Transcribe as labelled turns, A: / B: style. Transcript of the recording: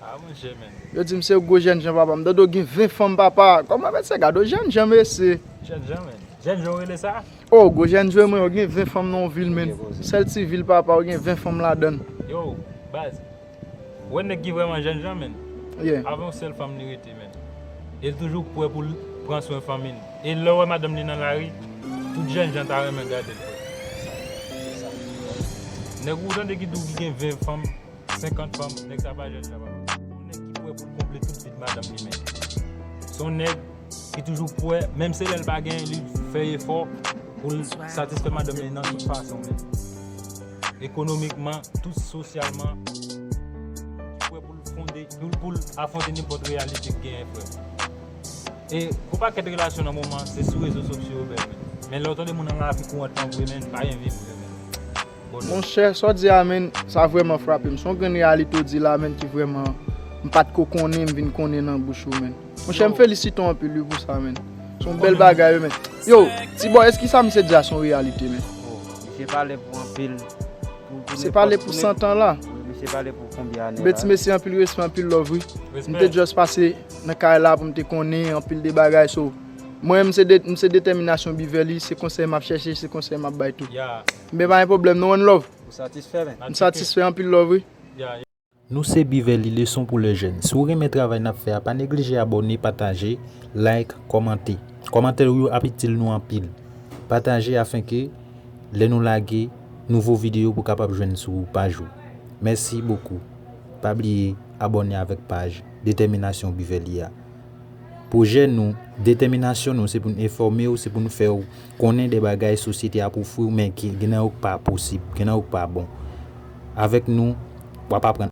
A: Ah mwen jemen.
B: Yo dim se gwo jènjan
A: papa m dodo gen 20 fanm papa kòman mèt se gadon jènjan mesye. Jènjan
B: menn. Jènjan ou rele sa? Oh gwo jènjan
A: mwen ou gen 20 fanm nan yon vil menn. Sèl ti vil papa ou gen 20 fanm ladann. Yow baz
B: ou wè nèg ki vrèman jènjan menn yeah avè yon sèl
A: fanm li
B: rete menn el toujou prè poul pran swen fanmi l e lèw wè madanm li nan lari tout jènjan ta renmen gadel frè. Nèg ou tande ki di w ki gen 20 fanm. 50 banm nèg sa pa jèn sa pa banm. Son nèg ki pwè poul konble tout vid madanm li men. Son nèg ki toujou pwè menm se lèl pa gen li fè efò poul satisfè madanm li nan tout fason men. Ekonomikman tout sosyalman ki pwè poul fonde poul afwonte nenpòt reyalite k genyen frèm. E gon pakèt relasyon nan moman se sou rezo sosyo yo bèl men. Men lèw tande moun nan lavi kourantman vre menn pa gen vi vre menn.
A: Monchè, sa w di a menn, sa vrèman frape m. Se yon grenn reyalite w di la menn ki vrèman m pa t ko konnen, m vin konnen nan bouch ou menn. Monchè, m felisite w anpil wi pou sa menn. Se yon bèl bagay wi menn. Yo, ti bòy, èske sa misye di a se yon reyalite menn? O, misye pale
C: pou anpil, pou nepòt. Misye pale
A: pou santan la. Wi, misye pale pou konbyen
C: ane la. Anben, ti mesye, anpil respè, anpil
A: love wi. M te just pase nan kay la pou m te konnen anpil de bagay. So, mwen, m se detèminasyon Beverly, se konsèy m ap chèche, se konsèy m ap bay tou. Knbe pa gen pwoblèm nou ann love. Ou satisfè men. M
C: satisfè anpil love wi.
A: Nou se
D: Biverly leson pou le jèn si w renmen travay nap fè a pa neglije abòne pataje like kòmante kòmantè w yo ap itil nou anpil pataje afin ke lè nou lage nouvo video pou kapab jwenn sou ou pa jou mèsi bokou pa bliye abòne avèk paj detèminasyon Biverly a Pwojè nou, detèminasyon nou se pou n enfòme w, se pou n fè w konnen de bagay sosyete ap ofri w men gen nan yo k pa posib, gen nan yo k pa bon. Avèk nou, w ap aprann.